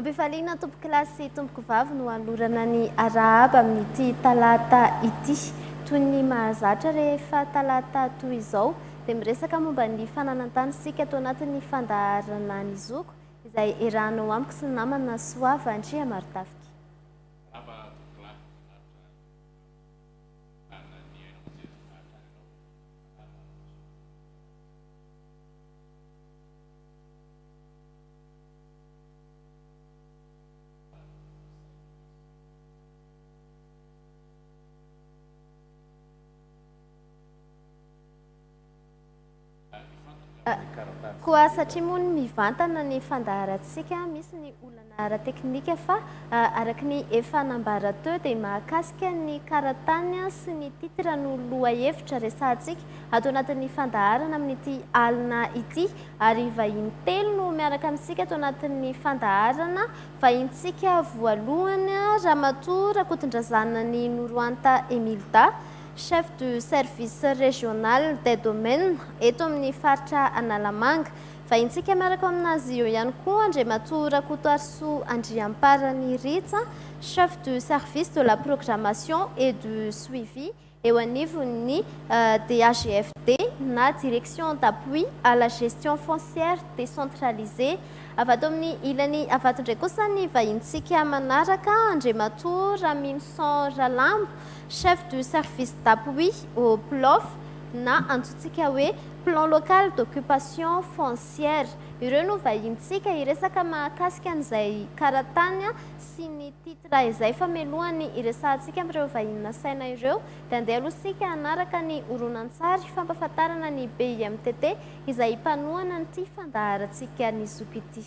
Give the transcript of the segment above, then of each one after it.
Ampifaliana tompokilasy sy tompoko vavy no hanolorana ny arahaba amin'ity talata ity. Toy ny mahazatra rehefa talata toy izao dia miresaka momba ny fananan-tany isika tao anatin'ny fandaharana Ny Zoky izay erahanao amiko sy ny namana Soava Andriamarotafika. Koa satria moa ny mivantana ny fandaharantsika, misy ny olana ara-teknika fa araka ny efa nambara teo dia mahakasika ny karatany sy ny titre no lohahevitra resahantsika ato anatin'ny fandaharana amin'ity alina ity ary vahiny telo no miaraka amintsika ato anatin'ny fandaharana vahintsika voalohany Ramatoa Rakotondrazanany Noroanta Emilda Chef du service régional des domaines eto amin'ny faritra Analamanga. Vahintsika miaraka ao amin'azy eo ihany koa Andriamatoa Rakotoarisoa Andriamparany Rits, Chef du service de la programmation et du suivi eo anivon'ny DAGFD na Direction d'appui à la gestion foncière décentralisée. Avy ato amin'ny ilany Ivato indray kosa ny vahintsika manaraka, Andriamatoa Raminison Ralambo, Chef du service d'appui au PLOF na antsointsika hoe Plan Local d'Occupation Foncière. Ireo no vahinintsika hiresaka mahakasika an'izay karatany sy ny titre izay fa mialohan'ny hiresahantsika amin'ireo vahiny nasaina ireo dia andeha aloha isika hanaraka ny horonantsary fampahafantarana ny BIMTT izay mpanohana an'ity fandaharantsika nizoky ity.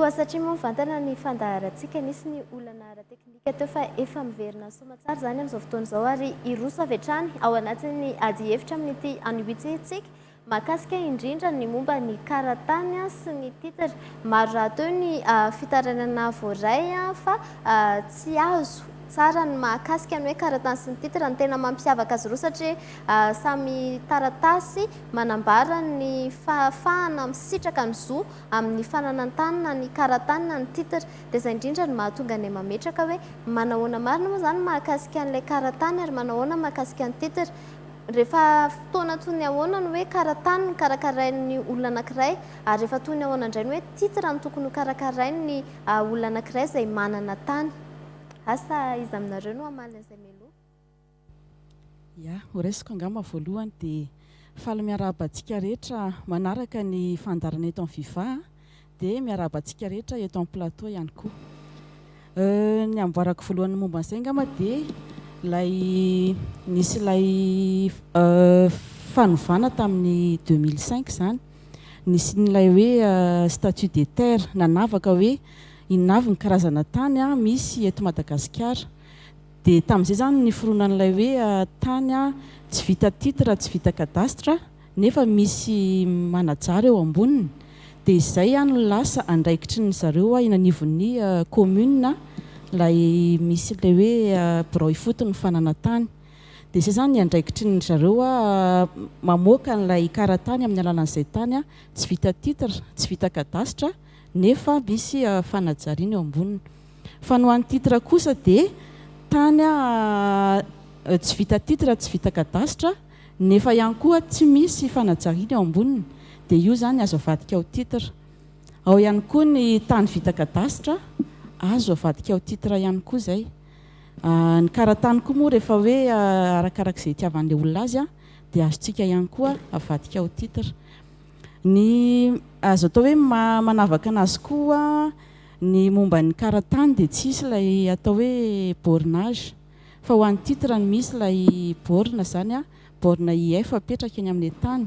Koa satria moa mivantana ny fandaharantsika, nisy ny olana ara-teknika teo fa efa miverina ny soamantsara izany amin'izao fotoana izao ary hiroso avy hatrany ao anatin'ny adihevitra amin'ity anio ity isika. Mahakasika indrindra ny momba ny karatany sy ny titre. Maro rahateo ny fitarainana voaray fa tsy azo tsara ny mahakasika ny hoe karatany sy ny titre. Ny tena mampiavaka azy ireo satria samy taratasy manambara ny fahafahana misitraka ny zo amin'ny fananan-tany na ny karatany na ny titre. Dia izay indrindra no mahatonga ny mametraka hoe manahoana marina moa izany mahakasika an'ilay karatany ary manahoana mahakasika ny titre. Rehefa fotoana toy ny ahoana ny hoe karatany no karakarain'ny olona anankiray, ary rehefa toy ny ahoana indray ny hoe titre no tokony hokarakarain'ny olona anankiray izay manana tany? Asa iza aminareo no hamaly an'izay mialoha? Ya, ho raisiko angamba voalohany dia faly miarahaba antsika rehetra manaraka ny fandaharana eto amin'ny Viva a! Dia miarahaba antsika rehetra eto amin'ny plateau ihany koa. Euh, ny amboarako voalohany momba an'izay angamba dia ilay nisy ilay euh, fanovana tamin'ny 2005 izany. Nisy n'ilay hoe euh, statut des terres nanavaka hoe inona avy ny karazana tany ah, misy eto Madagasikara. Dia tamin'izay izany niforonan'ilay hoe euh, tany ah, tsy vita titre, tsy vita cadastre. nefa misy manajary eo amboniny dia izay an no lasa andraikitry ny zareo an eny anivon'ny commune an ilay misy ilay hoe birao ifotony fanana tany dia izay izany ny andraikitry ny zareo an mamoaka an'ilay karatany amin'ny alalan'izay tany an tsy vita titre tsy vita cadastre nefa misy fanajariana eo amboniny Fa ny ho an'ny titre kosa dia tany aho tsy vita titre tsy vita kadasitra nefa ihany koa tsy misy fanajariana eo amboniny dia io izany azo avadika ho titre. Ao ihany koa ny tany vita kadasitra azo avadika ho titre ihany koa izay. Ny karatany koa moa rehefa hoe arakaraka izay itiavan'ilay olona azy dia azontsika ihany koa avadika ho titre. Ny azo atao hoe manavaka anazy koa Ny momba ny karatany dia tsy hisy ilay atao hoe bornage fa ho an'ny titre no misy ilay borne izany a, borne IF apetraka eny amin'ny tany.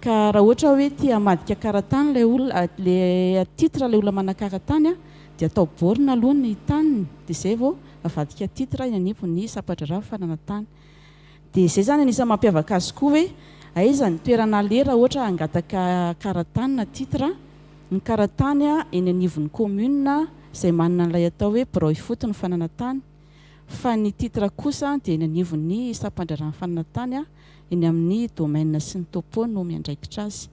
Ka raha ohatra hoe te hamadika karatany ilay olona, ilay titre ilay olona manan-karatany a, dia atao borne aloha ny taniny dia izay vao avadika titre eny anivon'ny sampa-draharaha fananantany. Dia izay izany anisan'ny mampiavaka azy koa hoe aiza ny toerana aleha raha ohatra hangataka karatany na titre ny karatany eny anivon'ny commune izay manana an'ilay atao hoe birao ifotony fananantany fa ny titre kosa dia eny anivon'ny sampandraharahan'ny fananantany eny amin'ny domaine sy ny topo no miandraikitra azy.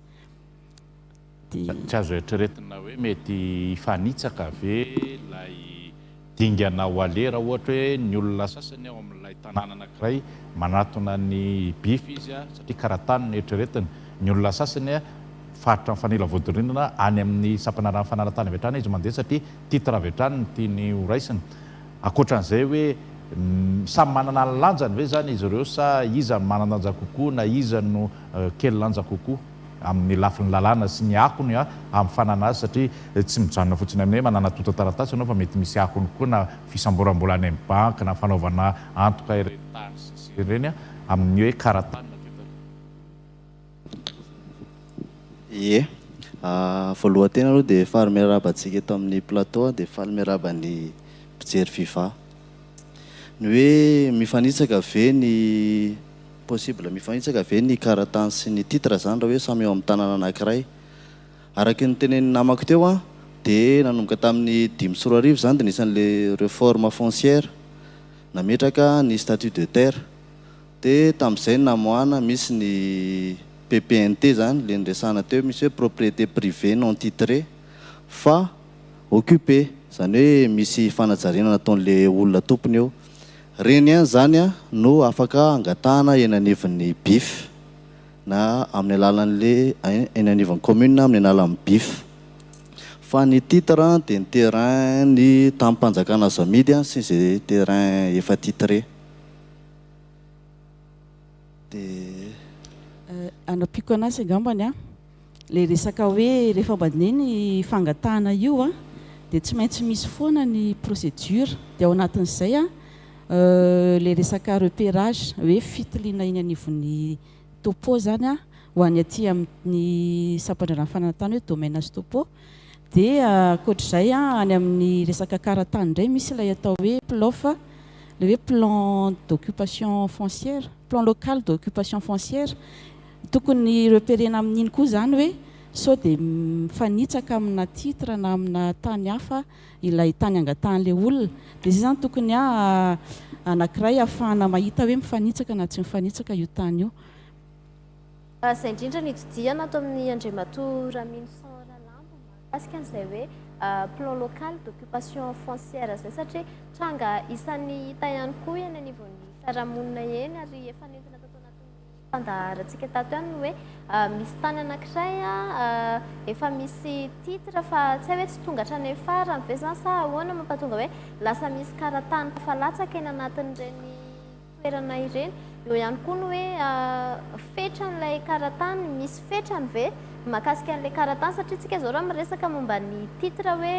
dia. Tsy azo eritreretina hoe mety hifanitsaka ve ilay dingana ao Aleha raha ohatra hoe ny olona sasany ao amin'ilay tanàna anankiray manatona an'i Biff izy satria kara-tany no eritreretiny. Ny olona sasany faritra mifanila vodirindrina any amin'ny sampana rano fanala-tany avy hatrany izy mandeha satria titre avy hatrany no tiany horaisina. Ankoatran'izay hoe samy manana ny lanjany ve izany izy ireo sa iza no manan-danja kokoa na iza no kely lanja kokoa? amin'ny lafiny lalàna sy ny akony amin'ny fananana azy satria tsy mijanona fotsiny amin'ny hoe mananatontan-taratasy ianao fa mety misy akony koa na fisamboram-bola any amin'ny banky na fanaovana antoka ireny tany sy ny sisa ireny amin'ny hoe kara-tany na toe-tany. Ie. Voalohan-tena aloha dia faly miarahaba antsika eto amin'ny plateau dia faly miarahaba ny mpijery viva. Ny hoe mifanitsaka ve ny. Possible mifanitsaka ve ny karatany sy ny titre zany raha hoe samy eo amin'ny tanana anankiray? Araky ny notenenin'ny namako teo an, dia nanomboka tamin'ny dimy sy roa arivo izany dia nisy an'ilay reforme foncière, nametraka ny statut de terre. Dia tamin'izay namoahana, misy ny PPNT zany, ilay niresahana teo, misy hoe propriété privée non titrée fa occupée, izany hoe misy fanajariana nataon'ilay olona tompony eo. Reny ihany izany no afaka angatahana eny anivon'ny Bif na amin'ny alalan'le eny anivon'ny commune amin'ny alalan'ny Bif. Fa ny titre dia ny terrain ny tamim-panjakana azo amidy sy izay terrain efa titré. dia. Hanampiako an'asa angambany aho. Ilay resaka hoe rehefa mandeha ny fangatahana io dia tsy maintsy misy foana ny procédure. Dia ao anatin'izay ilay resaka repérage hoe fitiliana eny anivon'ny topo izany ho any aty amin'ny sampandraharaha fananantany hoe domaine sy topo. Dia ankoatra izay any amin'ny resaka karantany indray misy ilay atao hoe PLOF, ilay hoe plan d'occupation foncière, plan local d'occupation foncière. Tokony repérer-na amin'iny koa izany hoe sao dia mifanitsaka amina titre na amina tany hafa ilay tany angatahan'ilay olona. Dia izay izany tokony anankiray ahafahana mahita hoe mifanitsaka na tsy mifanitsaka io tany io. Izay indrindra nitodihana ato amin'ny Andriamatoa Raminison Ralambo mahakasika an'izay hoe plan local d'occupation foncière izay satria tranga isan'ny hita ihany koa eny anivon'ny fiarahamonina eny ary efa nentina tato anatin'ny fandaharantsika tato ihany ny hoe misy tany anankiray efa misy titre fa tsy hay hoe tsy tonga hatrany amin'ny farany ve izany sa ahoana mampatonga hoe lasa misy karatany efa latsaka eny anatin'ireny toerana ireny. Eo ihany koa ny hoe fetran'ilay karatany, misy fetrany ve mahakasika an'ilay karatany? Satria isika izao raha miresaka momba ny titre hoe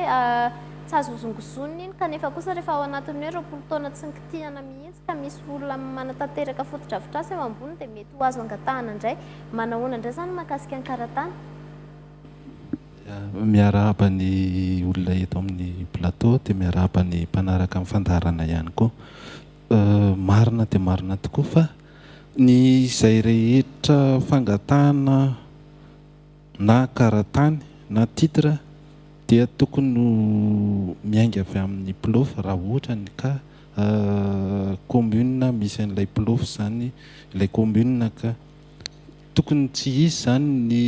tsy azo hozongozonina iny kanefa kosa rehefa ao anatin'ny hoe roapolo taona tsy nikitihana mihitsy ka misy olona manatanteraka fotodrafitrasa eo amboniny dia mety ho azo angatahana indray. Manahoana indray izany ny mahakasika ny karatany? Miarahaba ny olona eto amin'ny plateau dia miarahaba ny mpanaraka ny fandaharana ihany koa. Marina dia marina tokoa fa ny izay rehetra fangatahana na karatany na titre dia tokony ho miainga avy amin'ny Pulofo raha ohatra ny ka commune misy an'ilay Pulofo izany ilay commune ka. Tokony tsy hisy izany ny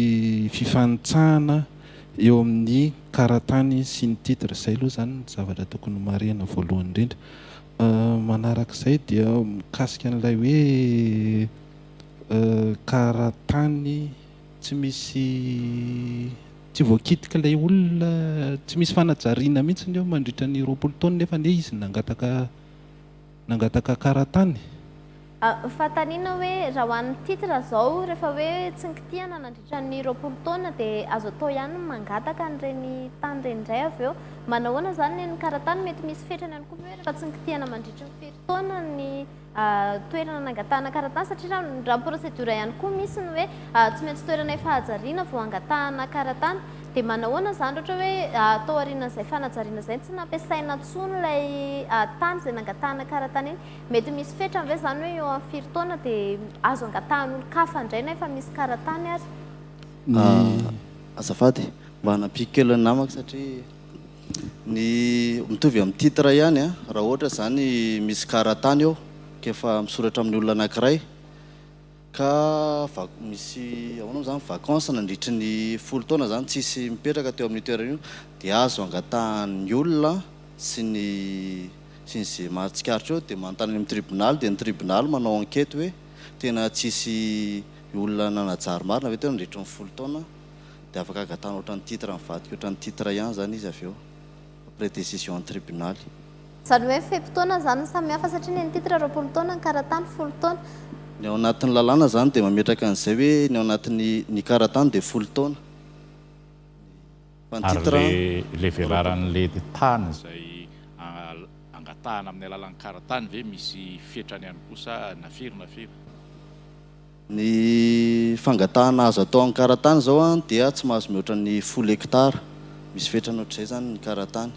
fifanitsahana eo amin'ny karatany sy ny titre. Izay aloha izany ny zavatra tokony ho marihina voalohany indrindra. Manaraka izay dia mikasika an'ilay hoe karatany tsy misy tsy voakitika ilay olona, tsy misy fanajariana mihitsy eo mandritra ny roapolo taona nefa anie izy nangataka nangataka karatany. Fanontaniana hoe raha ho an'ny titre izao rehefa hoe tsy nikitihana nandritra ny roapolo taona dia azo atao ihany ny mangataka an'ireny tany ireny indray avy eo. Manahoana izany ny an'ny karatany? Mety misy fetrany ihany koa ve hoe rehefa tsy nikitihana mandritry ny firy taona ny toerana nangatahana karatany satria raha ny raha ny procédure ihany koa misy ny hoe tsy maintsy toerana efa hajariana vao hangatahana karatany dia manahoana izany raha ohatra hoe tao aorianan'izay fanajariana izay tsy nampiasaina intsony ilay tany izay nangatahana karatany iny? Mety misy fetrany ve izany hoe eo amin'ny firy taona dia azo angatahan'olon-kafa indray na efa misy karatany ary? Azafady, mba hanampiako kely ny namako satria ny mitovy amin'ny titre ihany an, raha ohatra izany misy karatany eo ka efa misoratra amin'ny olona anankiray, Ka vac misy ahoana moa zany vacance nandritry ny folo taona zany tsisy mipetraka teo amin'io toerana io dia azo angatahan'ny olona sy ny sy ny ze maro tsikaritra eo dia manontany any amin'ny tribonaly dia ny tribonaly manao enquete hoe tena tsisy olona nanajary marina ve teo nandritry ny folo taona dia afaka angatahanao ohatran'ny titre mivadika ohatran'ny titre ihany zany izy avy eo. après décision tribunaly. Zany hoe fe-potoana zany no samy hafa satria ny an'i titre roapolo taona, ny karatany folo taona. Ny ao anatin'ny lalàna zany dia mametraka an'izay hoe ny ao anatin'ny ny karatany dia folo taona fa ny titre roapolo. Ary le velaran'le tany izay angatahana amin'ny alalan'ny karatany ve misy fetrany ihany koa sa na firy na firy? Ny fangatahana azo atao amin'ny karatany izao dia tsy mahazo mihoatra ny folo hektara. Misy fetrany ohatr'izay izany ny karatany.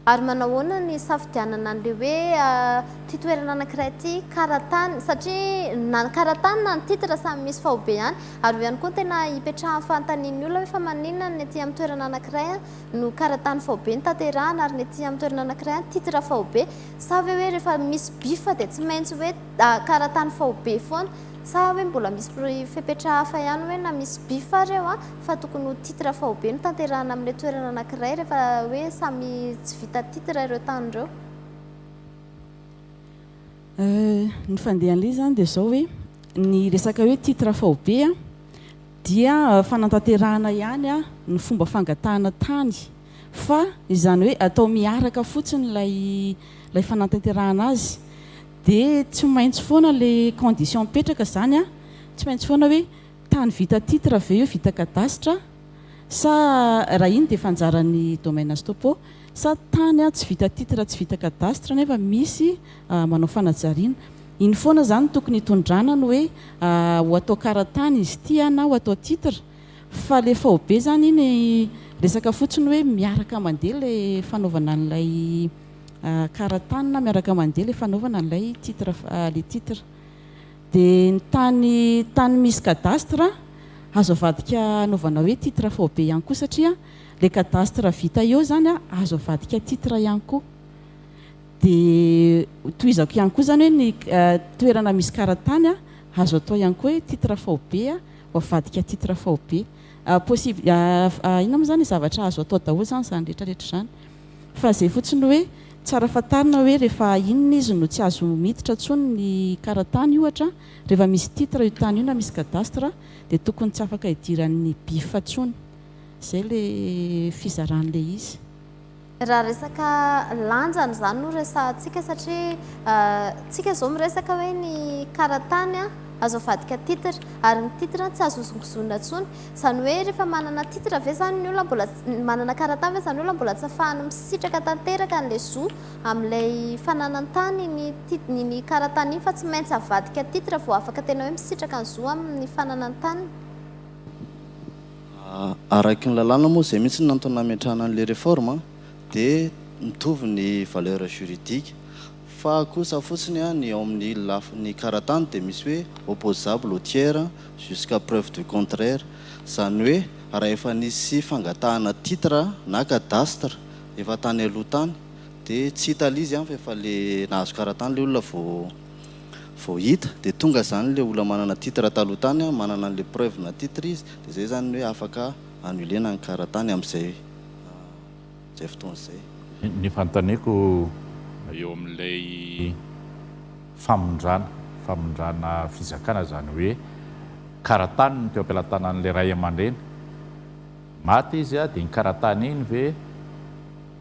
Ary manahoana ny hisafidianana an'ilay hoe ity toerana anankiray ity, karatany? Satria na ny karatany na ny titre samy misy faobe ihany. Ary io ihany koa no tena ipetrahan'ny fanontanian'ny olona hoe fa maninona ny ety amin'ny toerana anankiray no karatany faobe no tanterahana ary ny ety amin'ny toerana anankiray titre faobe? Sa ve hoe rehefa misy bifa dia tsy maintsy hoe karatany faobe foana? Sa hoe mbola misy fepetra hafa ihany hoe na misy bifa ary eo fa tokony ho titre faobe no tanterahana amin'ilay toerana anankiray rehefa hoe samy tsy vita titre ireo tany ireo? Ny fandehan'ilay izy izany dia izao hoe ny resaka hoe titre faobe dia fanantanterahana ihany ny fomba fangatahana tany. Fa izany hoe atao miaraka fotsiny ilay ilay fanatanterahana azy dia tsy maintsy foana ilay condition mipetraka izany an, tsy maintsy foana hoe tany vita titre ve io vita cadastre sa raha iny dia efa anjaran'ny domaines topo sa tany an tsy vita titre tsy vita cadastre nefa misy manao fanajariana. Iny foana izany no tokony hitondrana ny hoe ho atao karatany izy ity an na ho atao titre. Fa le faobe zany iny resaka fotsiny hoe miaraka mandeha le fanaovana an'ilay karatany na miaraka mandeha le fanaovana an'ilay titre le titre. De ny tany tany misy cadastre azo avadika anaovana hoe titre faobe ihany koa satria le cadastre vita eo zany azo avadika titre ihany koa. De tohizako ihany koa zany hoe ny toerana misy karatany azo atao ihany koa hoe titre faobe. Voavadika titre faobe. Possible inona moa izany zavatra azo atao daholo izany izany rehetra rehetra izany. Fa izay fotsiny hoe tsara fantarina hoe rehefa inona izy no tsy azo miditra intsony ny karatany ohatra rehefa misy titre io tany io na misy cadastre dia tokony tsy afaka idiran'ny bif intsony. Izay ilay fizarana ilay izy. Raha resaka lanjany izany no resahantsika satria tsika izao miresaka hoe ny karatany azo avadika titre ary ny titre tsy azo hozongozonina intsony. Izany hoe rehefa manana titre ve izany ny olona mbola, manana karatany ve izany olona mbola tsy afahany misitraka tanteraka an'ilay zo amin'ilay fananantany ny tit- ny ny karatany iny fa tsy maintsy avadika titre vao afaka tena hoe misitraka ny zo amin'ny fananantany? Araky ny lalàna moa izay mihitsy no nantony nametrahana an'ilay réforme dia mitovy ny valeur juridique fa kosa fotsiny ny ao amin'ny lafiny karatany dia misy hoe opposable au tiers jusqu'à preuve du contraire izany hoe raha efa nisy fangatahana titre na cadastre efa tany aloha tany dia tsy hita l'izy any fa efa le nahazo karatany le olona vao vao hita dia tonga zany le olona manana titre taloha tany an, manana anle preuve na titre izy dia zay zany ny hoe afaka annuler-na ny karatany amzay zay fotoana zay. Ny fantaneko eo amin'ilay famindrana famindrana fizakana izany hoe karatany no teo am-pelatanan'ilay ray aman-dreny, maty izy dia iny karatany iny ve?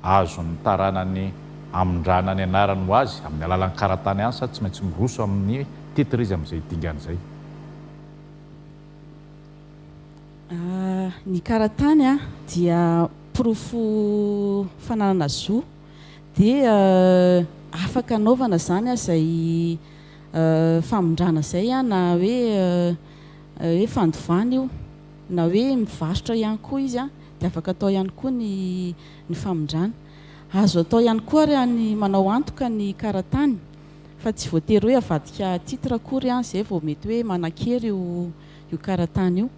azon'ny taranany amindrana ny anarany ho azy amin'ny alalan'ny karatany asa tsy maintsy miroso amin'ny titre izy amin'izay dingana izay. Ny karatany dia porofo fananana zo dia afaka anaovana izany izay famindrana izay na hoe hoe fandovana io. na hoe mivarotra ihany koa izy dia afaka atao ihany koa ny ny famindrana. Azo atao ihany koa ary ny manao antoka ny karatany fa tsy voatery hoe avadika titre akory izay vao mety hoe manan-kery io io karatany io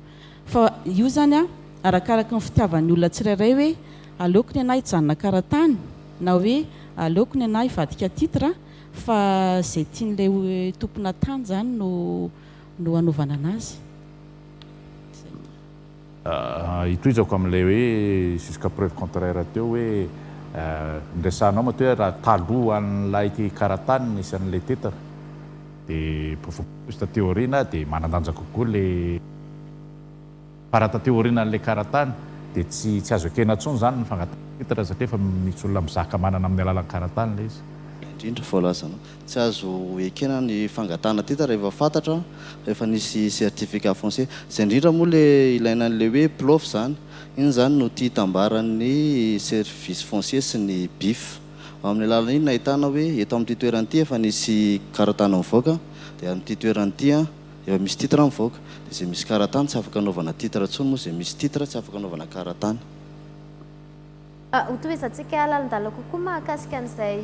fa io izany arakaraka ny fitiavan'ny olona tsirairay hoe aleoko ny anah hijanona karatany na hoe aleoko ny anah hivadika titre fa izay tian'ilay tomponà tany izany no no hanaovana an'azy. Hitohizako amin'ilay hoe jusqu'à preuve contraire teo hoe niresahanao matoa hoe raha talohan'ilay karatany nisy an'ilay tetany dia profondeur taty aoriana dia manandanja kokoa ilay fa raha taty aorianan'ilay karatany dia tsy tsy azo ekena intsony izany ny fangatahana titre satria efa misy olona mizaka manana amin'ny alalan'ny karatany ilay izy. Indrindra voalazanao. Tsy azo ekena ny fangatahana titre rehefa fantatra fa efa nisy certificat foncier. Izay indrindra moa le ilaina an'ilay hoe Plof izany. Iny izany no tia hitambaran'ny service foncier sy ny BIF. Ao amin'ny alalan'iny no ahitana hoe eto amin'ity toerana ity efa nisy karatany mivoaka, dia amin'ity toerana ity efa misy titre mivoaka. Dia izay misy karatany tsy afaka anaovana titre intsony moa izay misy titre tsy afaka anaovana karatany. Hotohizantsika lalindalina kokoa mahakasika an'izay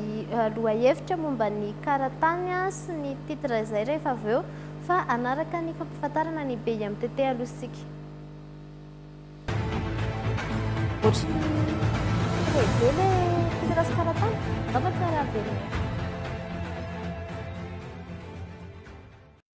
lohahevitra momba ny karatany sy ny titre izay rehefa avy eo fa hanaraka ny fampifantarana ny BIMTT aloha isika.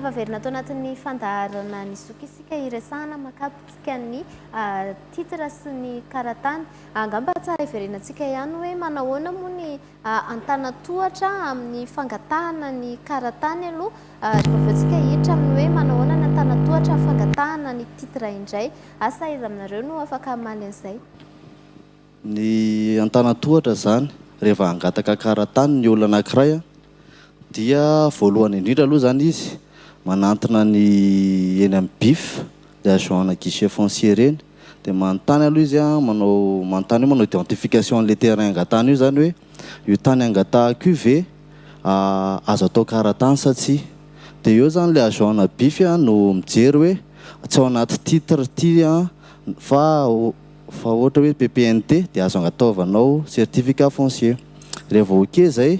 Tafaverina ato anatin'ny fandaharana ny zoky isika hiresahana makapotsika ny ah, titre sy ny karatany. Angamba tsara hiverenantsika ihany hoe manahoana moa ny Antanantohatra amin'ny fangatahana ny karatany aloha ary avy eo tsika hiditra amin'ny hoe manao ahoana ny Antanantohatra amin'ny fangatahana ny titre indray. Asa iza aminareo no afaka hamaly an'izay? Ny Antanantohatra izany reheva hangataka karatany ny olona anankiray dia voalohany indrindra aloha izany izy manantona ny eny amin'ny bif, ny agent ana guichet foncier ireny Dia manontany aloha izy an, manao manontany hoe manao identification an'ilay terrain angatahana io izany hoe io tany angatahako io ve azo atao karatany sa tsia. Dia eo izany ilay agent na bif an no mijery hoe tsy ao anaty titre ity an fa fa ohatra hoe PPNT dia azo agnataovanao certificat foncier. Rehefa vao ok izay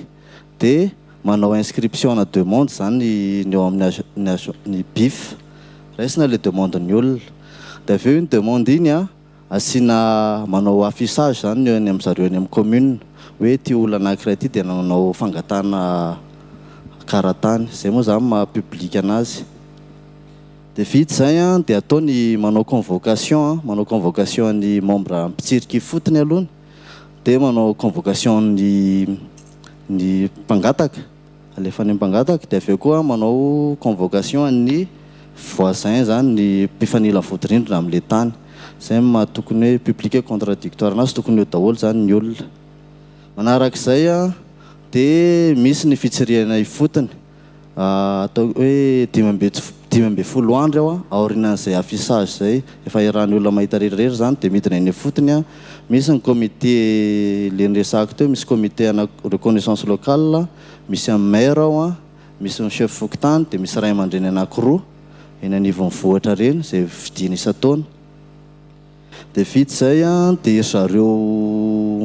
Dia manao inscription ana demande izany ny ao amin'ny age ny age ny bif. Raisina ilay demande ny olona. Dia avy eo iny demande iny an, asiana manao affichage izany ny eny amin'ny zareo eny amin'ny commune. Hoe ity olona anankiray ity dia nanao fangatahana karatany. Izay moa izany maha public anazy. Dia vita izay an, dia atao ny manao convocation an, manao convocation ny membre mpitsirika ifotony aloha. Dia manao convocation ny. ny mpangataka, alefa any amin'ny mpangataka dia avy eo koa manao convocation an'ny voisin izany ny mpifanila vodirindrina amin'ilay tany. Izay no maha tokony hoe public et contradictoire anazy, tokony eo daholo izany ny olona. Manarak'izay dia misy ny fitsirihana ifotony. Ataoko hoe dimy ambin'ny fo- dimy ambin'ny folo andro eo aorianan'izay affichage izay, efa iarahan'ny olona mahita rehetrarehetra izany dia midina eny ifotony. Misy ny comité le niresahako teo, misy comité ana reconnaissance locale, misy an'ny maire ao an, misy ny chef fokontany dia misy ray aman-dreny anakiroa eny anivon'ny vohitra ireny izay fidiany isan-taona. Dia vita izay an, dia ry zareo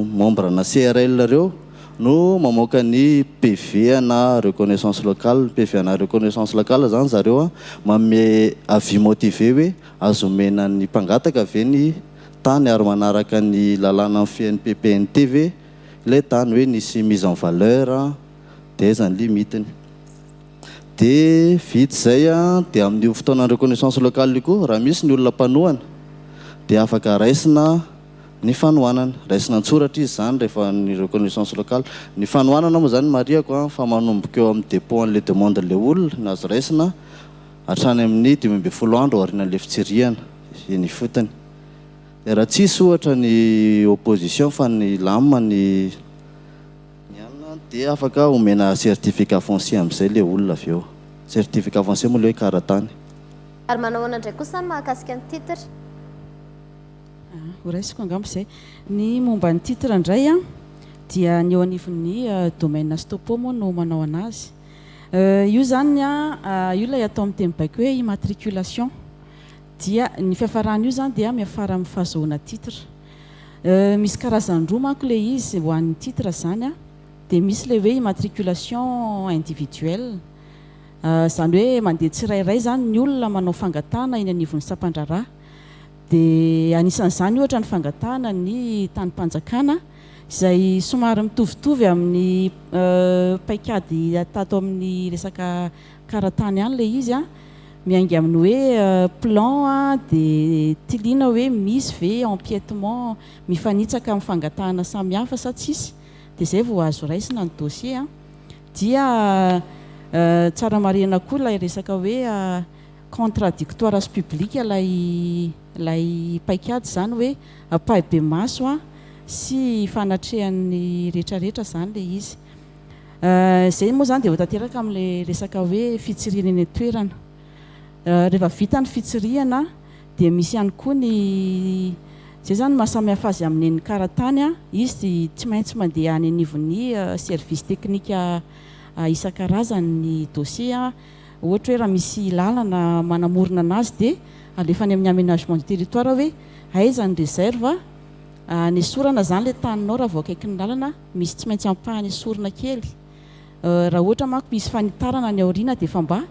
membre ana CRL reo no mamoaka ny PV ana reconnaissance locale, ny PV ana reconnaissance locale izany ry zareo an, manome avis motivé hoe azo omena ny mpangataka ve ny tany ary manaraka ny lalàna mifehy ny PPNT ve ilay tany hoe nisy mise en valeur an, dia izay izany limite-ny. Dia vita izay dia amin'io fotoana reconnaissance locale io koa raha misy ny olona mpanohana dia afaka raisina ny fanohanana. Raisina an-tsoratra izy izany rehefa ny reconnaissance locale. Ny fanohanana moa izany marihako fa manomboka eo amin'ny dépôt an'ilay demande ilay olona no azo raisina hatrany amin'ny dimy ambin'ny folo andro aorianan'ilay fitsirihana eny ifotony. Dia raha tsisy ohatra ny opposition fa ny lamina ny Ny alina dia afaka omena certificat foncier amin'izay ilay olona avy eo. Certificat foncier moa ilay hoe kara-tany. Ary manao ahoana indray kosa ny mahakasika ny titre? Ah, ho raisiko angamba izay. Ny momba ny titre indray an, dia ny eo anivon'ny domaine sy topo moa no manao an'azy. Euh, io izany an, ah, io ilay atao amin'ny teny baiko hoe immatriculation. Dia ny fiafaran'io izany dia miafara amin'ny fahazoana titre. Euh misy karazany roa manko le izy ho an'ny titre zany a, de misy le hoe immatriculation individuelle ah zany hoe mandeha tsirairay zany ny olona manao fangatahana eny anivon'ny sampandraharaha de anisan'izany ohatra ny fangatahana ny tanim-panjakana izay somary mitovitovy amin'ny euh paikady atato amin'ny resaka Kara tany ihany ilay izy a. Miainga amin'ny hoe plan a, dia tiliana hoe misy ve empiètement mifanitsaka amin'ny fangatahana samihafa sa tsisy, dia izay vao azo raisina ny dossier a. Dia tsara marihina koa ilay resaka hoe contradictoire sy public ilay ilay paikady izany hoe ampahibemaso a sy fanatrehan'ny rehetrarehetra izany ilay izy. Izay moa izany dia ho tanteraka amin'ilay resaka hoe fitsirihana eny an-toerana. Rehefa vita ny fitsirihana dia misy ihany koa ny izay izany no mahasamihafa azy amin'ny an'ny karatany. Izy dia tsy maintsy mandeha any anivon'ny service teknika isan-karazany ny dossier. Ohatra hoe raha misy lalana manamorona anazy dia alefa any amin'ny aménagement du territoire hoe aiza ny réserve hanesorana izany ilay taninao raha vao akaikin'ny lalana. misy tsy maintsy ampahany esorina kely eh, raha ohatra manko misy fanitarana any aoriana dia efa mba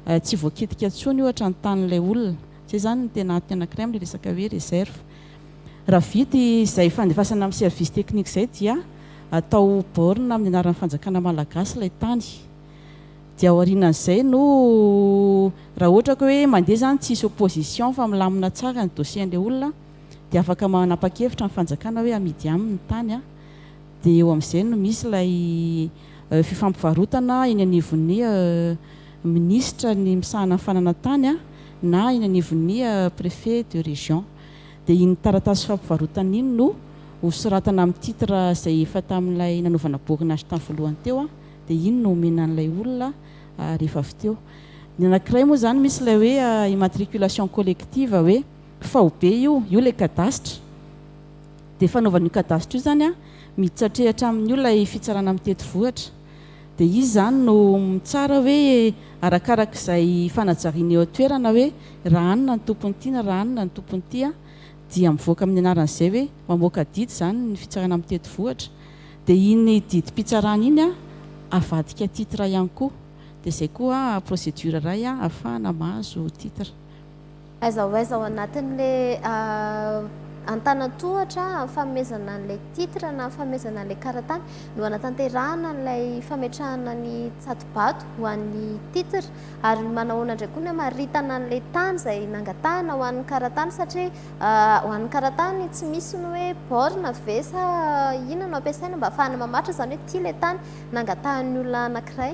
eh, tsy voakitika intsony ohatra ny tanin'ilay olona. Izay izany no tena antony anankiray amin'ilay resaka hoe réserve. Raha vita izay fandefasana amin'ny service technique izay dia atao borne amin'ny anaran'ny fanjakana malagasy ilay tany. Dia aorianan'izay no raha ohatra ka hoe mandeha izany tsisy opposition fa milamina tsara ny dossier-n'ilay olona dia afaka manapa-kevitra ny fanjakana hoe amidy aminy ny tany. dia eo amin'izay no misy ilay fifampivarotana eny anivon'ny minisitra ny misahana ny fananantany na eny anivon'ny préfet de région. Dia iny taratasy fifampivarotana iny no hosoratana amin'ny titre izay efa tamin'ilay nanaovana boakin'azy tamin'ny voalohany teo, dia iny no homena an'ilay olona rehefa avy teo. Ny anankiray moa izany misy ilay hoe immatriculation collective hoe faobe io, io ilay kadasitra. Dia fanaovana io cadastre io zany miditra hatrehatra amin' io ilay fitsarana mitety vohitra. Dia izy zany no mitsara hoe arakaraka izay fanajariana eo an-toerana hoe raha any na ny tompon' ity na raha any na ny tompon' ity dia mivoaka amin' ny anaran' izay hoe mamoaka didy zany ny fitsarana mitety vohitra. Dia iny didim-pitsarana iny avadika titre ihany koa. Dia izay koa procédure iray ahafahana mahazo titre. Aiza ho aiza ao anatin'ilay antanan-tohatra fanomezana an'ilay titre na fanomezana an'ilay karatany no hanatanterahana an'ilay fametrahana ny tsatobato ho an'ny titre? Ary manahoana indray koa ny hamaritana an'ilay tany izay nangatahana ho an'ny karatany satria ho an'ny karatany tsy misy ny hoe borne ve sa inona no ampiasaina mba hahafahana mamaritra izany hoe ity ilay tany nangatahan'ny olona anankiray?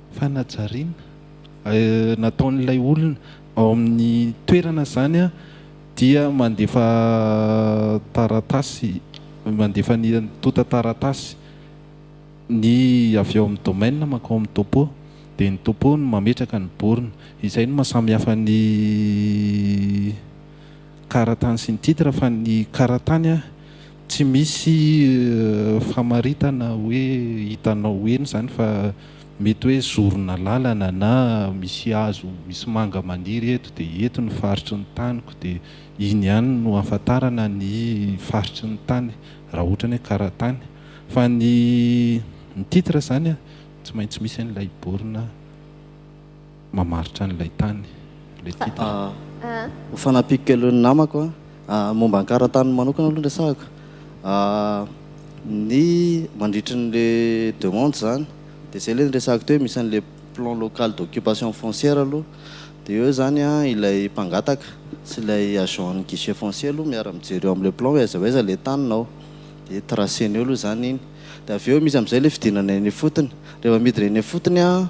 Fanajariana nataon'ilay olona ao amin'ny toerana izany dia mandefa taratasy, mandefa ny antontan-taratasy ny avy ao amin'ny domaine mankao amin'ny topo, dia ny topo no mametraka ny borne. Izay no maha samy hafa ny karatany sy ny titre fa ny karatany Tsy misy famaritana hoe hitanao eny izany fa mety hoe zorona lalana na misy hazo misy manga maniry eto dia eto ny faritry ny taniko dia iny ihany no ahafantarana ny faritry ny tany raha ohatra ny hoe karatany fa ny ny titre izany tsy maintsy misy an'ilay borne mamaritra an'ilay tany ilay titre. Ho fanampiako kely ny namako an, momba ny karantaniny manokana aloha ny resahako, ny mandritry ny le demande zany de zay le niresahako teo hoe misy an'le plan local d'occupation foncière aloha de eo zany an ilay mpangataka sy ilay agent ny guichet foncier aloha miara mijery eo am'le plan hoe aiza ho aiza le taninao de tracer-ny eo aloha zany iny de avy eo misy am'zay le fidinana eny ifotony, rehefa midina eny ifotony an.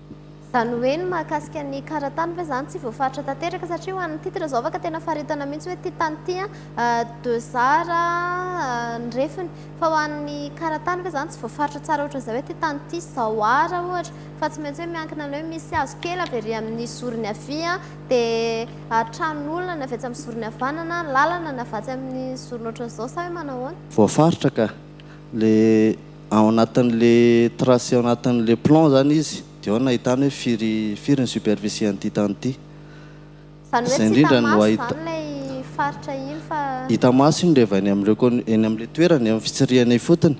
Izany hoe ny mahakasika ny karatany ve izany tsy voafaritra tanteraka satria ho an'ny titre izao afaka tena faritana mihitsy hoe ity tany ity deux art ny refiny fa ho an'ny karatany ve izany tsy voafaritra tsara ohatran'izay hoe ity tany ity izao art ohatra fa tsy maintsy hoe miankina amin'ny hoe misy hazo kely avy ery amin'ny zorony havia dia tranon'olona ny avy etsy amin'ny zorony havanana, lalana ny avy atsy amin'ny zorony ohatran'izao sa hoe manao ahoana? Voafaritra ka! Ilay. ao anatin'le trace ao anatin'le plan zany izy de ao no ahitany hoe firy firy ny superficie an'ity tany ity Zany hoe tsy hita maso zany lay faritra iny fa. Hita maso iny reva eny amle eny amle toerana eo am fitsirihana ifotony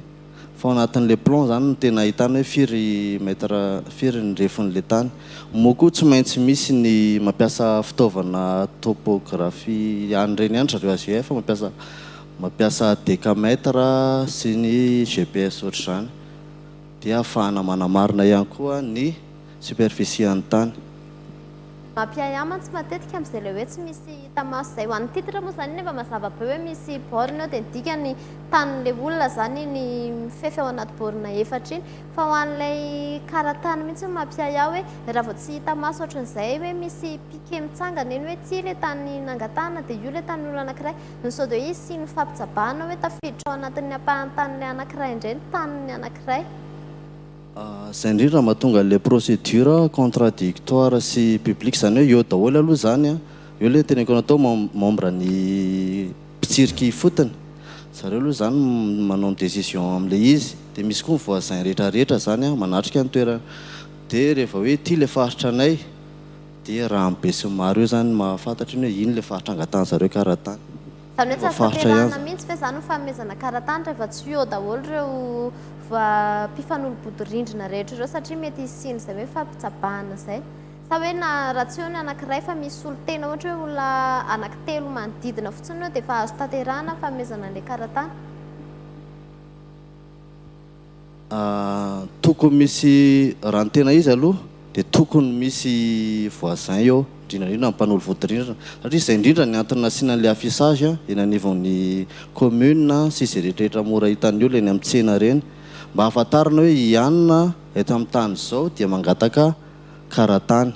fa ao anatin'le plan zany no tena ahitany hoe firy mètre firy ny refon'le tany moa koa tsy maintsy misy ny mampiasa fitaovana topographie any reny any zareo AGF mampiasa Mampiasa decamètre sy ny GPS ohatr'izany dia ahafahana manamarina ihany koa ny superficie-an'ny tany. Mampiahy ahy mantsy matetika amin'izay ilay hoe tsy misy hita maso izay. Ho an'ny titre moa izany nefa mazava be hoe misy borne eo dia ny dikany tanin'ilay olona izany iny mifefy ao anaty borne efatra iny. Fa ho an'ilay kara-tany mihitsy no mampiahy ahy hoe raha vao tsy hita maso ohatr'izay hoe misy piquet mitsangana eny hoe ity ilay tany nangatahana dia io ilay tanin'olona anankiray, Ny sodoisy sy ny fampitsabahana hoe tafiditra ao anatin'ny ampahan-tanin'ny anankiray indray ny tanin'ny anankiray. Izay indrindra no mahatonga ilay procédure contradictoire sy publique, izany hoe eo daholo aloha izany an, eo ilay teneniko anao tao membre ny mpitsirika ifotony, zareo aloha izany manao ny décision amin'ilay izy, dia misy koa ny voisins rehetra rehetra izany an manatrika ny toerana, dia rehefa hoe ity ilay faritra anay Dia raha amin'ny besinimaro eo izany no mahafantatra iny hoe iny ilay faritra angatahan-dry zareo karatany. Izany hoe tsy azo tanterahina mihitsy ve izany ny fanomezana karatany rehefa tsy eo daholo ireo mpifanolo-bodirindrina rehetra ireo satria mety hisian'izay hoe fampitsabahana izay? Sa hoe na raha tsy eo ny anankiray fa misy solontena ohatra hoe olona anankitelo manodidina fotsiny eo dia efa azo tanterahina ny fanomezana an'ilay karatany? Tokony misy raha ny tena izy aloha dia tokony misy voisin eo indrindra indrindra ny mpanolo vodirindrina satria izay indrindra ny antony nasiana an'ilay affichage eny anivon'ny commune sy izay rehetrarehetra mora hitan'ny olona eny amin'ny tsena ireny mba hahafantarana hoe i anona eto amin'ny tany izao dia mangataka karatany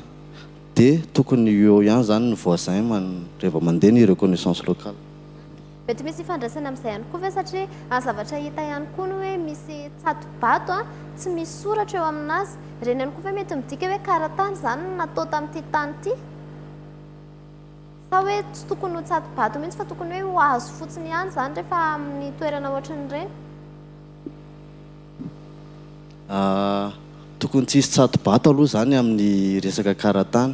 dia tokony eo ihany izany ny voisin man- rehefa mandeha ny reconnaissance locale. Mety misy ifandraisany amin'izay ihany koa ve satria a zavatra hita ihany koa ny hoe misy tsato-bato a tsy misy soratra eo amin'azy. Ireny ihany koa ve mety midika hoe karatany izany no natao tamin'ity tany ity? Sa hoe tsy tokony ho tsato-bato mihitsy fa tokony hoe ho hazo fotsiny ihany izany rehefa amin'ny toerana ohatran'ireny? Tokony tsy hisy tsato-bato aloha izany amin'ny resaka karatany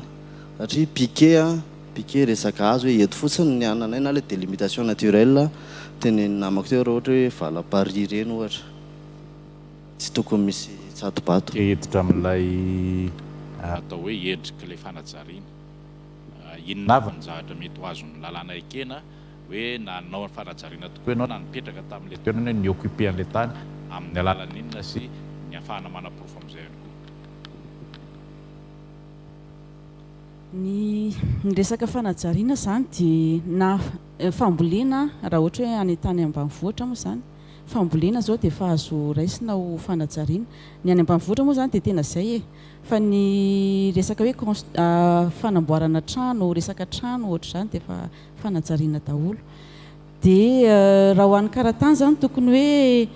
satria piquet an, piquet resaka azy hoe eto fotsiny ny ananay na ilay délimitation naturelle tenenin'ny namako teo raha ohatra hoe vala paris ireny ohatra. Tsy tokony misy tsato-bato. Te hiditra amin'ilay atao hoe endrik'ilay fanajariana. Inona avy ny zavatra mety ho azon'ny lalàna ekena? hoe nanao ny fanajariana tokoa ianao na nipetraka tamin'ilay toerana hoe ni-occuper an'ilay tany amin'ny alalan'inona sy ny hahafahana manaporofo amin'izay ihany koa. Ny resaka fanajariana izany dia na fambolena raha ohatra hoe any an-tany ambanivohitra moa izany, fambolena izao dia efa azo raisina ho fanajariana. Ny any ambanivohitra moa izany dia tena izay e! Fa ny resaka hoe cons- fanamboarana trano, resaka trano ohatr'izany dia efa. fanajariana daholo dia raha ho an'ny karatany izany tokony hoe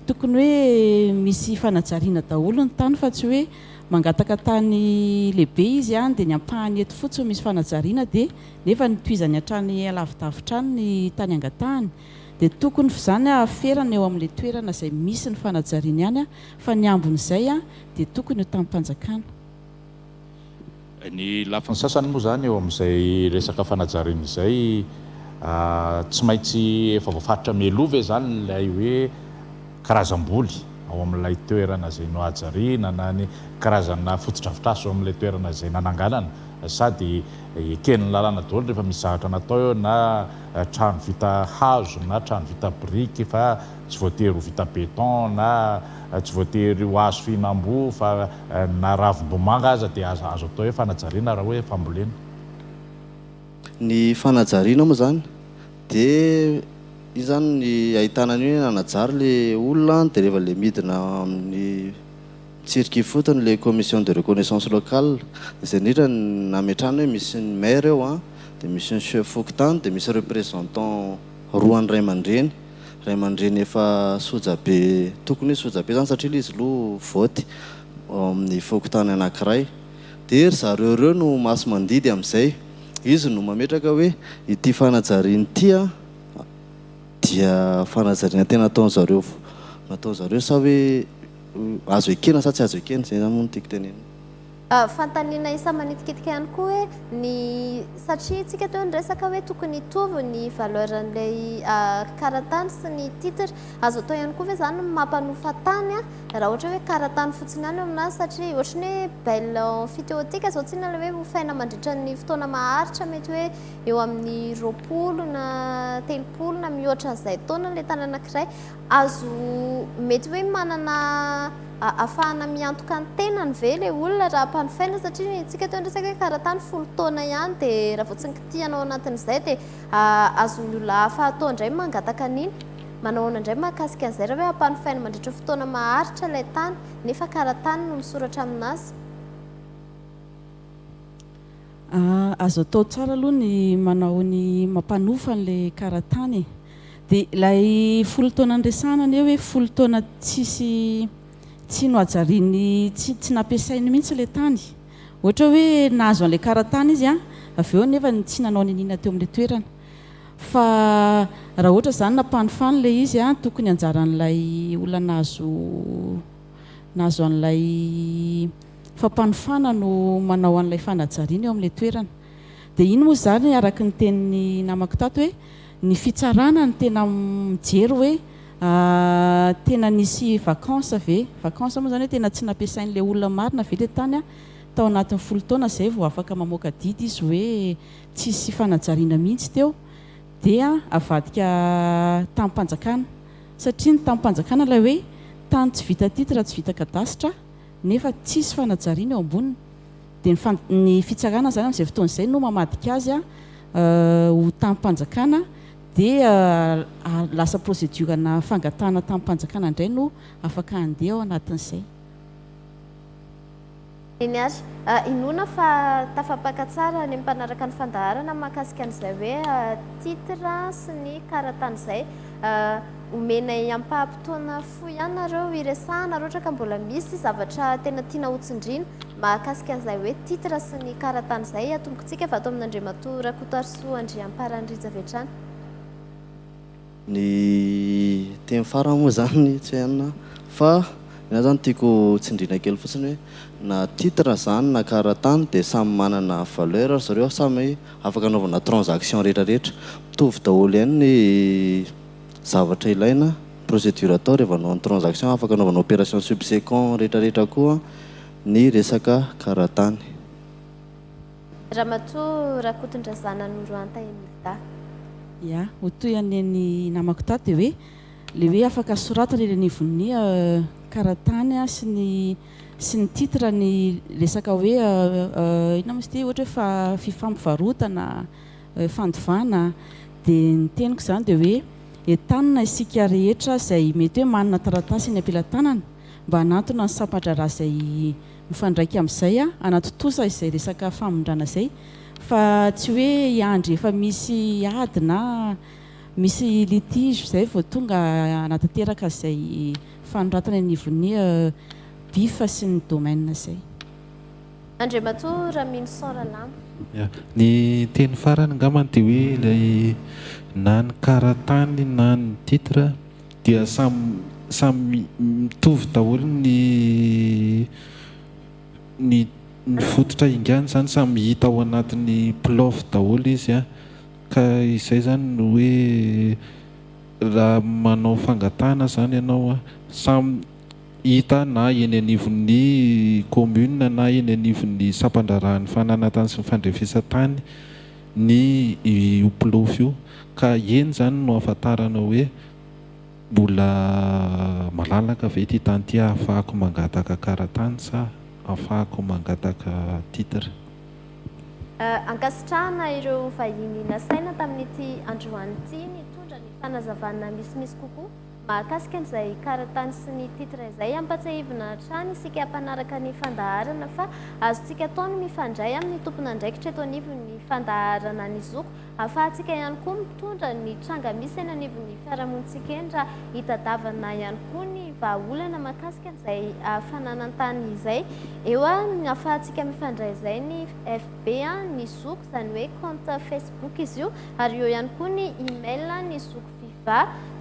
tokony hoe misy fanajariana daholo ny tany fa tsy hoe mangataka tany lehibe izy any dia ny ampahany eto fotsiny misy fanajariana dia nefa ny tohizany hatrany alavidavitra any ny tany angatahany dia tokony f'izany ahaferana eo amin'ilay toerana izay misy ny fanajariana ihany fa ny ambin'izay dia tokony ho tamim-panjakana Ny lafiny sasany moa izany eo amin'izay resaka fanajariana izay, tsy maintsy efa voafaritra mialoha ve izany ilay hoe karazam-boly ao amin'ilay toerana izay nohajariana na ny karazana fotodrafitrasa eo amin'ilay toerana izay nananganana sa dia eken'ny lalàna daholo rehefa misy zavatra natao eo na trano vita hazo na trano vita biriky fa Tsy voatery ho vita béton na tsy voatery ho hazo fihinam-boa fa na ravim-bomanga aza dia azo atao hoe fanajariana raha hoe fambolena. Ny fanajariana moa izany dia iny izany ny ahitana an'io hoe nanajary ilay olona dia rehefa ilay midina amin'ny tsirika ifotony ilay commission de reconnaissance locale izay indrindra ny nametrahana hoe misy ny maire eo an, dia misy ny chef fokontany dia misy représentant roa an'ny ray aman-dreny ray aman-dreny efa soja be, tokony hoe soja be izany satria ilay izy aloha vote ao amin'ny fokontany anankiray dia ry zareo ireo no masi-mandidy amin'izay, izy no mametraka hoe ity fanajariana ity dia fanajariana tena nataon'ny zareo nataon'ny zareo sa hoe azo ekena sa tsy azo ekena, izay izany moa no tiako tenenina. Fanontaniana isa manitikitika ihany koa hoe ny satria tsika teo niresaka hoe tokony hitovy ny valeur an'ilay karatany sy ny titre azo atao ihany koa ve zany ny mampanofa tany a raha ohatra hoe karatany fotsiny ihany eo aminazy satria ohatra ny hoe belle emphytéotique zao tsinona ilay hoe hofaina mandritra ny fotoana maharitra mety hoe eo amin'ny roapolo na telopolo na mihoatra an'izay taona ilay tany anankiray Azo mety hoe manana ahafahana miantoka ny tenany ve ilay olona raha ampanofaina satria ny antsika teo niresaka hoe karatany folo taona ihany dia raha vao tsy nikitihana ao anatin'izay dia azon'ny olona hafa atao indray ny mangataka an'iny. Manao ahoana indray mahakasika an'izay raha hoe ampanofaina mandritra fotoana maharitra ilay tany nefa karatany no misoratra amin'azy? Azo atao tsara aloha ny manao ny mampanofa an'ilay karatany e. Dia ilay folo taona niresahana anie hoe folo taona tsisy tsy nohajariany tsy tsy nampiasainy mihitsy ilay tany. Ohatra hoe nahazo an'ilay karatany izy an, avy eo nefa ny tsy nanao niniana teo amin'ilay toerana. Fa raha ohatra izany nampanofainy ilay izy an, tokony anjaran'ilay olona nahazo nahazo an'ilay fampanofana no manao an'ilay fanajariana eo amin'ilay toerana. Dia iny moa izany araka ny tenin'ny namako tato hoe. Ny fitsarana no tena mijery hoe tena nisy vacance ve? Vacance moa izany hoe tena tsy nampiasain'ilay olona marina ve ilay tany tao anatin'ny folo taona izay vao afaka mamoaka didy izy hoe tsisy fanajariana mihitsy teo dia avadika tamim-panjakana satria ny tamim-panjakana ilay hoe tany tsy vita titre tsy vita kadasitra nefa tsisy fanajariana eo amboniny Dia ny fan ny fitsarana zany amin'izay fotoana izay no mamadika azy ho tamim-panjakana dia lasa procédure-na fangatahana tamim-panjakana indray no afaka handeha ao anatin'izay. Eny ary, inoana fa tafapaka tsara ny mpanaraka ny fandaharana mahakasika an'izay hoe titre sy ny karatany izay omenay ampaham-potoana Fohy ihany nareo iresahana roatra ka mbola misy zavatra tena tiana ho tsindrina mahakasika an'izay hoe titre sy ny karatany izay atombokintsika avy ato amin'Andriamatoa Rakotoarisoa Andriamparany Rija Vetrany. Ny teny farany moa izany tsy en fa ny ahy izany tiako ho tsindrina kely fotsiny hoe na titre izany na karatany dia samy manana valeur ry zareo samy afaka anaovana transaction rehetra rehetra mitovy daholo ihany ny Zavatra ilaina, procédure atao rehefa hanao ny transaction afaka anaovana opération subsequent rehetra rehetra koa ny resaka karatany. Ramatoa Rakotondrazana Noroanta Emilda. Ya, ho toy an'i neny namako tato dia hoe le hoe afaka soratana eny anivon'ny karatany sy ny sy ny titre ny resaka hoe inona moa izy ity ohatra hoe fa fifampivarotana fandovana dia ny teniko izany dia hoe entanina isika rehetra izay mety hoe manana taratasy eny am-pelatanana mba hanantona ny sampa-draharaha izay mifandraika amin'izay hanatontosa izay resaka famindrana izay fa tsy hoe hiandry efa misy ady na misy litige izay vao tonga hanatanteraka izay fanoratana eny anivon'ny bif sy ny domaine izay. Andriamatoa Raminison Ralamo. Ya. Ny teny farany angambany dia hoe ilay na ny karatany na ny titre dia samy samy mitovy daholo ny ny ny fototra ingana izany, samy hita ao anatin'ny plov daholo izy an! Ka izay izany no hoe raha manao fangatahana izany ianao an, samy hita na eny anivon'ny kaominina na eny anivon'ny sampan-draharahan'ny fananantany sy ny fandrefesan-tany ny io ploof io ka eny izany no ahafantarana hoe mbola malalaka ve ity tany ity ahafahako mangataka karatany sa ahafahako mangataka titre. Ankasitrahana ireo vahiny nasaina tamin'ity androany ity nitondra ny fanazavana misimisy kokoa. Mahakasika an'izay karatany sy ny titre izay, ampatsiahivina hatrany isika mpanaraka ny fandaharana fa azontsika atao ny mifandray amin'ny tompon'andraikitra eto anivon'ny fandaharana ny zoky, ahafahantsika ihany koa mitondra ny tranga misy eny anivon'ny fiarahamonintsika eny raha hitadavana ihany koa ny vahaolana mahakasika an'izay fananantany izay eo ahafahantsika mifandray izay ny FB ny zoky izany hoe compte Facebook izy io ary eo ihany koa ny email ny zoky. fifa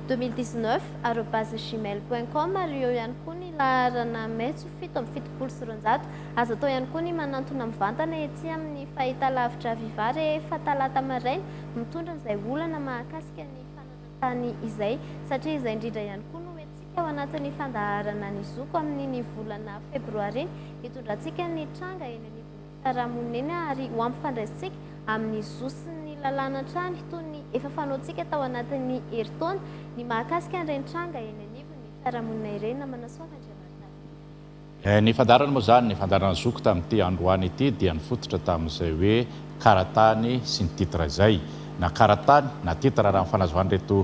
deux mille dix neuf arobase gmail point com ary eo ihany koa ny laharana metso fito amby fitopolo sy roanjato azo atao ihany koa ny manantona mivantana ety amin'ny fahitalavitra viva rehefa talata maraina mitondra izay olana mahakasika ny fananantany izay satria izay indrindra ihany koa no hetsika ao anatin'ny fandaharana ny zoko amin'ny ny volana febroary hitondrantsika ny tranga eny anivon'ny fiarahamonina ary ho ampifandraisintsika amin'ny zo sy ny lalàna hatrany toy ny efa fanaontsika tao anatin'ny herintaona ny mahakasika an'ireny tranga eny anivon'ny fiarahamonina ireny na Manasoava Andriamantarehetra. Ny fandaharana moa izany, ny fandaharana Zoky tamin'ity androany ity dia nifototra tamin'izay hoe Karatany sy ny titre izay. Na karatany na titre raha ny fanazavan'ireto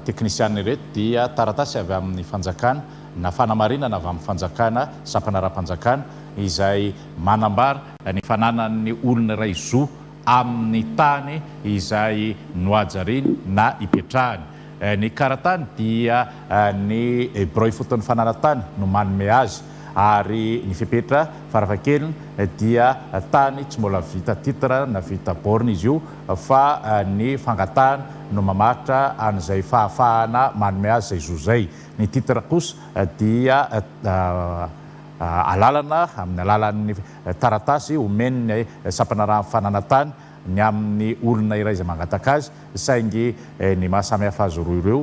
teknisianina ireto dia taratasy avy amin'ny fanjakana na fanamarinana avy amin'ny fanjakana, sampana ara-panjakana izay Manambara ny fananan'ny olona iray zo amin'ny tany izay nohajariany na ipetrahany. Ny karatany dia ny birao ifoton'ny fananan-tany no manome azy ary ny fepetra farafahakeliny dia tany tsy mbola vita titre na vita borne izy io fa ny fangatahana no mamaritra an'izay fahafahana manome azy izay zo izay. Ny titre kosa dia alalana amin'ny alalan'ny taratasy omen'ny sampana raha mifananatany ny amin'ny olona iray izay mangataka azy, saingy ny maha samy hafa azy roa ireo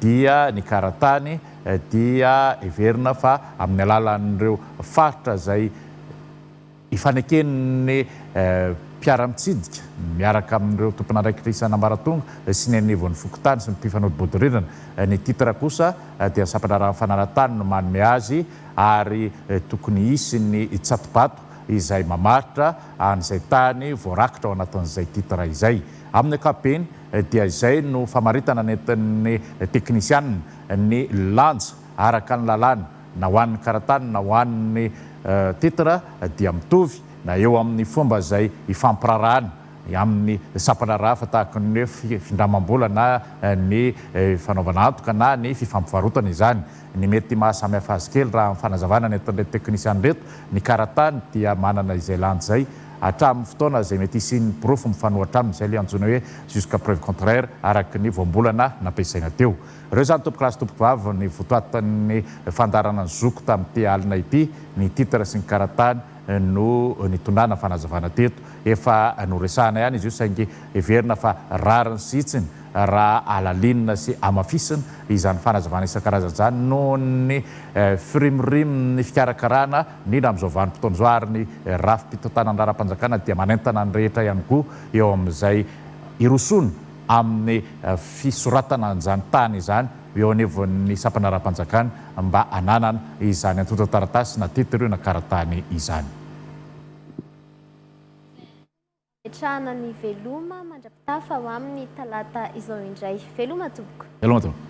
dia ny karatany dia heverina fa amin'ny alalan'ireo faritra izay. Ifaneken'ny mpiara-mitsidika miaraka amin'ireo tompon'andraikitra isan'ambaratonga sy ny anivon'ny fokontany sy ny mpifanolo bodirindrina. Ny titre kosa dia sampandraharahan'ny fananan-tany no manome azy ary tokony hisy ny tsatobato izay mamaritra an'izay tany voarakitra ao anatin'izay titre izay. Amin'ny ankapobeny dia izay no famaritana nentin'ny teknisianina ny lanja araka ny lalàna. na ho an'ny karatany na ho an'ny titre dia mitovy na eo amin'ny fomba izay ifampirarahana amin'ny sampandraharaha hafa tahaka ny hoe findramam-bola na ny fanaovana antoka na ny fifampivarotana izany. Ny mety maha samy hafa azy kely raha ny fanazavana nentin'ireto teknisiana ireto, ny karatany dia manana izay lany izay hatramin'ny fotoana izay mety hisian'ny porofo mifanohitra aminy, izay ilay antsoina hoe jusqu'à preuve contraire araka ny voambolana nampiasaina teo. Ireo izany tompokolahy sy tompokovavy ny votoatin'ny fandaharana ny zoko tamin'ity alina ity, ny titre sy ny karatany no nitondràna fanazavana teto. Efa noresahana ihany izy io saingy heverina fa rariny sy hitsiny raha alalinina sy hamafisina izany fanazavana isan-karazany izany noho ny firimorimon'ny fikarakarana indrindra amin'izao vanim-potoana izao ary ny rafi-pitantanana ara-panjakana dia manentana ny rehetra ihany koa eo amin'izay hirosoana amin'ny fisoratana an'izany tany izany eo anivon'ny sampana ara-panjakana mba hananana izany antontan-taratasy na titre na kara-tany izany. Nametrahana ny veloma mandra-pitafa ho amin'ny talata izao indray. Veloma tompoko. Veloma tompoko.